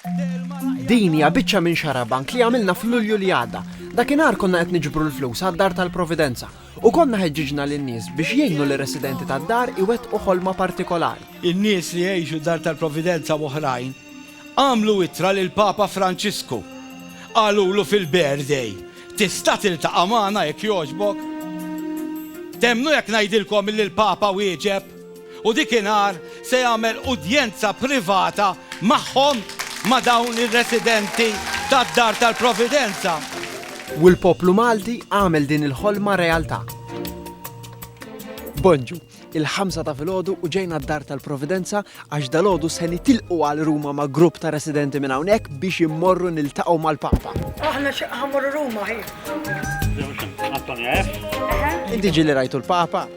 Din hija biċċa minn xarabank li għamilna f'Lulju li għadda. Dakinhar konna qed niġbru l-flus għad-Dar tal-Providenza u konna ħeġġiġna lin-nies biex jgħinu lir-residenti tad-dar iwettqu ħolma partikolari. In-nies li jgħixu d-Dar tal-Providenza u oħrajn għamlu ittra lill-Papa Franġisku. Qalulu fil-birthday, Tista' tiltaqa' magħna jekk jogħġbok? Temmnu jekk ngħidilkom li l-Papa wieġeb? u dikinhar se jagħmel udjenza privata magħhom ma' dawn ir-residenti tad-Dar tal-Providenza. U l-poplu Malti għamel din il-ħolma realtà. Bonġu, il-ħamsa ta' filgħodu u ġejna d-Dar tal-Providenza għax dalgħodu se nitilqu għal Ruma ma' grupp ta' residenti minn hawnhekk biex immorru niltaqgħu mal-Papa. Aħna ħammorru Ruma ħin. Inti ġieli rajtu l-Papa?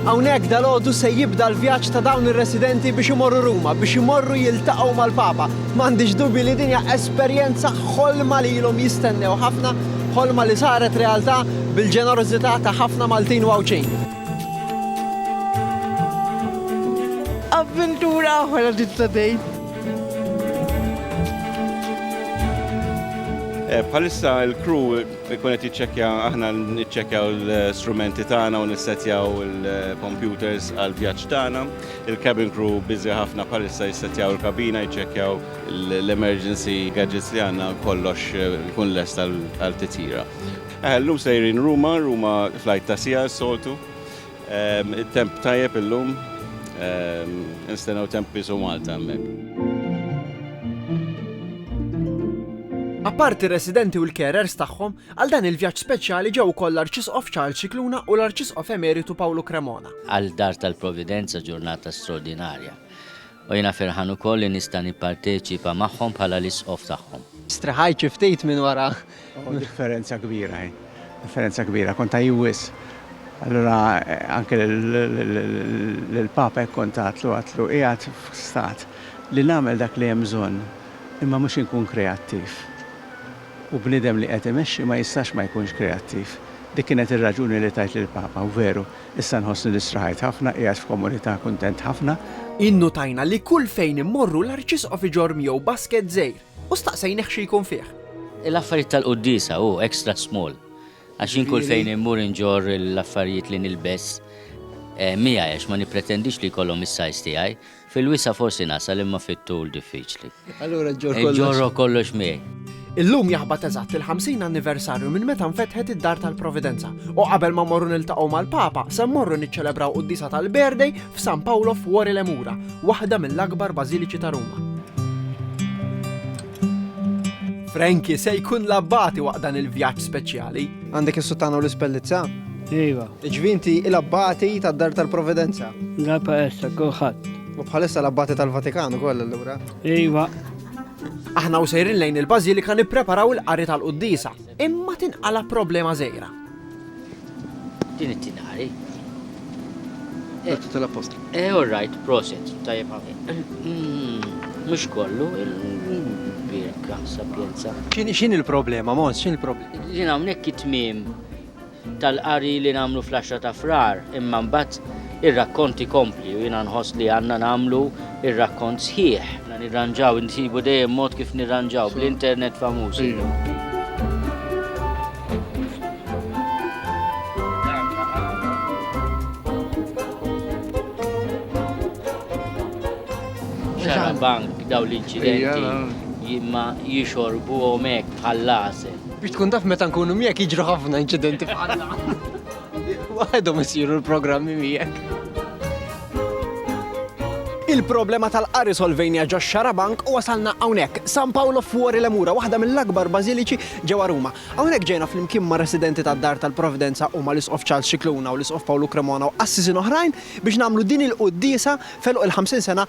Hawnhekk dalgħodu se jibda l-vjaġġ ta' dawn ir-residenti biex imorru Ruma, biex imorru jiltaqgħu mal-Papa. M'għandix dubji li din hija esperjenza ħolma li ilhom jistennew ħafna, ħolma li saret realtà bil-ġenerożità ta' ħafna Maltin u Għawdxin. Avventura oħra din ta' dejn. Bħalissa l-crew Ikun qed jiċċekkja aħna niċċekkjaw l-strumenti tagħna u nissetjaw il-computers għal vjaġġ tagħna. Il-cabin crew biżi ħafna bħalissa jissetjaw il-kabina, jiċċekkjaw l-emergency gadgets li għandna kollox ikun lest għal titjira. Llum sejrin Ruma, Ruma flight ta' siegħa s-soltu. It-temp tajjeb illum, nistennew temp qisu Malta hemmhekk. Apparti r-residenti u l-carers tagħhom, għal dan il-vjaġġ speċjali ġew ukoll l-Arċisqof Charles Scicluna u l-Arċisqof Emeritu Pawlu Cremona. Għal Dar tal-Providenza ġurnata straordinarja. U jiena ferħan ukoll li nista' nipparteċipa magħhom bħala l-Isqof tagħhom. Strehajt xi ftit minn wara. Oh, differenza kbira hi. Differenza kbira, kont għajju wisq. Allura anke lill-Papa hekk kont għadtlu, għadtlu qiegħed f'stat li nagħmel dak li hemm bżonn, imma mhux inkun kreattiv. U bniedem li qed imexxi ma jistax ma jkunx kreattiv. Dik kienet ir-raġuni li tajt lill-Papa, u veru, Issa nħossni li strahajt ħafna, qiegħed f'komunità, kuntent ħafna. Innutajna li kull fejn immorru l-Arċisqof iġorr miegħu basket żgħir u staqsejnih xi jkun fih. L-affarijiet tal-quddiesa, hu extra small. Għax jien kull fejn immur inġorr l-affarijiet li nilbes miegħi għax ma nippretendix li jkollhom is-size tiegħi. Fil-wisa' forsi nasal imma fit-tul diffiċli. Allura ġġorr kollox. Inġorrok kollox miegħi. Illum jaħbat eżatt il-50 anniversarju minn meta nfetħet id-Dar tal-Providenza u qabel ma mmorru niltaqgħu mal-Papa se mmorru niċċelebraw quddiesa tal-birthday f'San Paolo f'Wori Lemura, waħda mill-akbar bażiliċi ta' Ruma. Frankie se jkun l-abbati waqt dan il-vjaġġ speċjali. Għandek is-suttana u l-ispellizza? Iva. Ġvinti il-abbati tad-dar tal-Providenza. La paessa, kulħadd. U bħalissa l-abbati tal-Vatikan ukoll allura. Iva. Aħna u sejrin lejn il-Bażilika nippreparaw il-qari tal-Quddisa. Imma tinqala' problema żgħira. Din it-tieni qari. L-Atti tal-Appostli. Eh, all right, proset, tajjeb ħafna. Mhux kollu, il-birka, sapjenza. X'inhi l-problema, Mons, x'inhi l-problema? Din hawnhekk hi tmiem tal-qari li nagħmlu fl-għaxra ta' Frar, imma mbagħad ir-rakkont ikompli u jiena nħoss li għandna nagħmlu r-rakkont sħiħ. Għandna nirranġaw, insibu dejjem mod kif nirranġaw, bl-internet famuż illum. Xarabank dawn l-inċidenti imma jixorbuhom hekk bħall-għasel. Biex tkun taf meta nkunu miegħek jiġru ħafna inċidenti bħal dan. Waħedhom isiru l-programmi miegħek. Il-problema tal-qari solvejnija ġo xarabank u wasalna hawnhekk. San Paolo Fuori Lemura, waħda mill-akbar bażiliċi ġewwa Ruma. Hawnhekk ġejna flimkien ma' residenti tad-Dar tal-Provvidenza u ma' l-Isqof Charles Cicluna u l-Isqof Pawlu Cremona u qassisin oħrajn biex nagħmlu din il-quddiesa feluq il-50 sena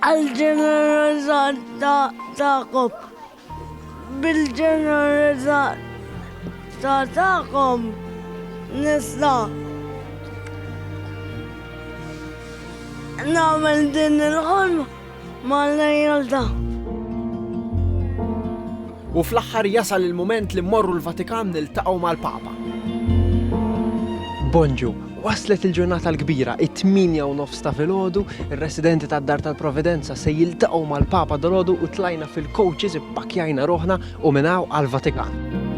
Għall-ġeneroża tagħkom. Bil-ġeneroża tagħkom nista' nagħmel din il-ħolma mal-lejl ta' U fl-aħħar jasal il-mument li mmorru l-Vatikan niltaqgħu mal-Papa. Bonġu, waslet il-ġurnata l-kbira, it-tminja u nofs ta' filgħodu, ir-residenti tad-Dar tal-Providenza se jiltaqgħu mal-Papa dolodu u tlajna fil-coaches ippakjajna ruħna u minn hawn għall-Vatikan.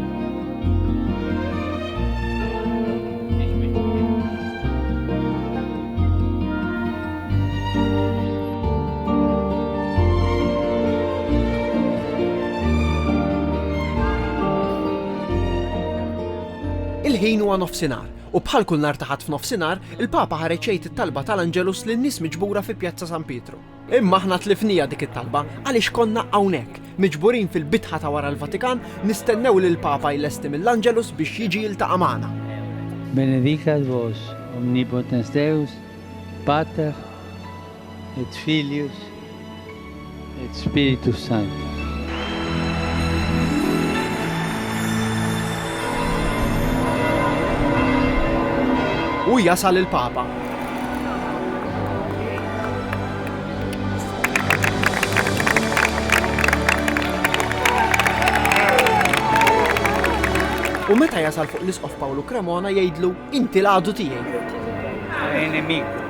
Il-ħin huwa nofsinhar, u bħal kull nhar ta' Ħadd f'nofsinhar, il-Papa ħareġ jgħid it-talba tal-Angelus lin-nies miġbura fi Pjazza San Pietru. Imma aħna tlifniha dik it-talba għaliex konna hawnhekk, miġburin fil-bitħa ta' wara l-Vatikan, nistennew lill-Papa jlesti mill-Angelus biex jiġi jiltaqa' magħna. Benedicat vos, omnipotens Deus, Pater, et Filius, et Spiritus Sanctus. U jasal il-Papa. U meta jasal fuq l-Isqof Pawlu Cremona jgħidlu Inti l-għadu tiegħi. E nemico.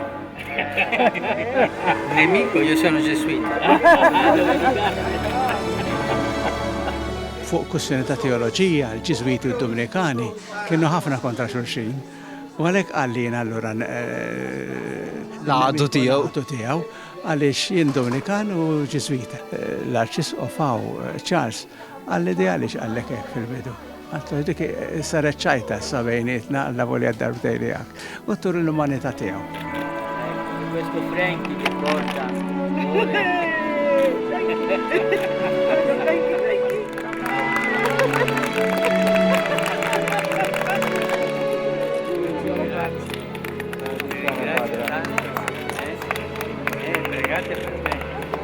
nemico, io sono ġeswita. Fuq kussjoni ta' teoloġija, l-Ġiżwiti u d-Dominikani kienu ħafna kontra xulxin. U għalhekk għallin allura eh, l-għadu tiegħu għaliex jien Dominikan u Ġiżwita. Eh, L-Arċisqofaw eh, Charles għall-ideali x'qallek hekk fil-bidu. Għatlu dik saret ċajta issa bejnietna alla volja darbtej li għak. U tur l-umanità tiegħu. Questo Frankie che porta. Grazie per me.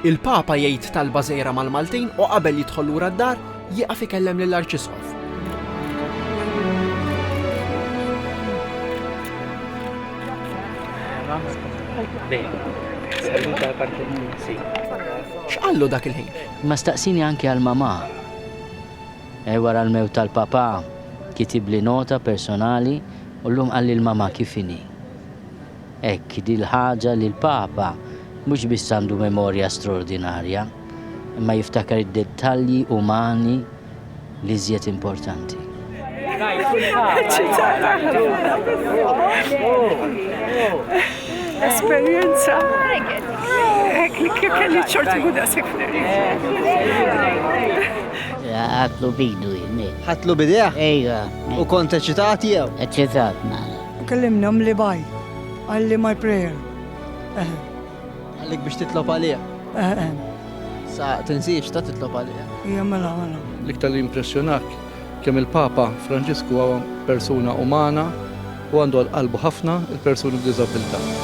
Il-Papa jgħid talba żgħira mal-Maltin u qabel jidħol lura d-dar, jieqaf ikellem lill-Arċisqof. X'qallu dak il-ħin? Ma staqsini anke għal mamà. E wara l-mewt tal-papà kitibli nota personali u llum qalli l-mamà kif inhi. Hekk, din l-ħaġa li l-Papa mhux biss għandu memorja straordinarja, imma jiftakar id-dettalji umani l-iżjed importanti. Ħadtlu b'idu, jien. Ħadtlu b'idejh? Ejwa. U kont eċitat jew? Eċitat, nara. U kellimni għamli baj, għalli my prayer. Għallik biex titlob għalija. Sa tinsiex ta' titlob għalija. Ija mela, mela. L-iktar li impressjonak kemm il-Papa Franġisku għawa persuna umana u għandu għal-qalbu ħafna il-persuni b'dizabilta.